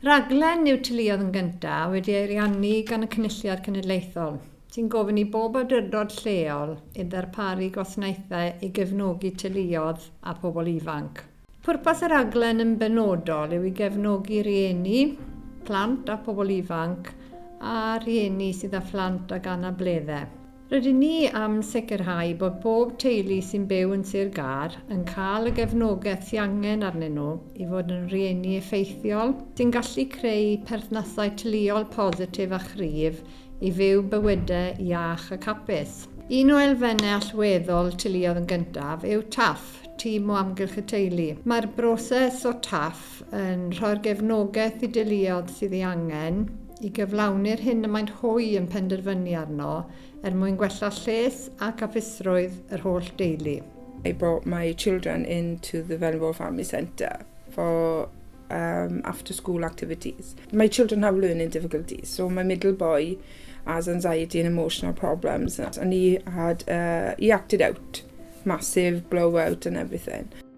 Rhaglen yw Teuluoedd yn Gyntaf wedi ei ariannu gan y Cynulliad Cenedlaethol, sy'n gofyn i bob awdurdod lleol i ddarparu gwasnaethau i gefnogi teuluoedd a phobl ifanc. Pwrpas y rhaglen yn benodol yw i gefnogi rhieni, plant a phobl ifanc a rhieni sydd â phlant ag anableddau. Rydyn ni am sicrhau bod pob teulu sy'n byw yn Sir Gâr yn cael y gefnogaeth sy angen arnyn nhw i fod yn rieni effeithiol sy'n gallu creu perthnasau teuluol positif a chryf i fyw bywydau iach ac hapus. Un o elfennau allweddol Teuluoedd yn Gyntaf yw TAF, Tîm o Amgylch y Teulu. Mae'r broses o TAF yn rhoi'r gefnogaeth i deuluoedd sydd ei angen, i gyflawni'r hyn y maent hwy yn penderfynu arno, er mwyn gwella lles ac apusrwydd yr holl deulu. I brought my children into the Vulnerable Family Centre for um, after school activities. My children have learning difficulties, so my middle boy has anxiety and emotional problems, and he had uh, he acted out, massive blowout and everything.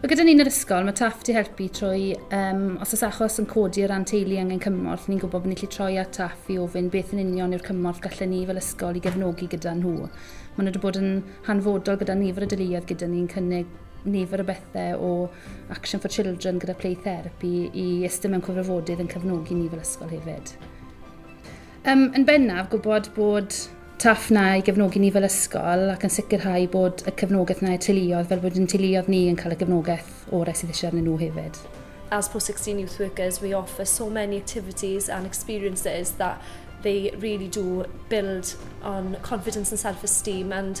Wel gyda ni yn yr ysgol, mae TAFT i helpu trwy, um, os oes achos yn codi o ran teulu angen cymorth, ni'n gwybod bod ni'n gallu troi at TAFT i ofyn beth yn union yw'r cymorth gallen ni fel ysgol i gefnogi gyda nhw. Maen nhw wedi bod yn hanfodol gyda nifer o deuluoedd gyda ni'n cynnig nifer o bethau o Action for Children gyda Play Therapy i ystod mewn cyfrifodydd yn cefnogi ni fel ysgol hefyd. Um, yn bennaf, gwybod bod TAF na i gefnogi ni fel ysgol ac yn sicrhau bod y cefnogaeth na i'r teuluoedd fel bod yn teuluoedd ni yn cael y gefnogaeth orau sydd eisiau arnyn nhw hefyd. As post 16 youth workers, we offer so many activities and experiences that they really do build on confidence and self-esteem and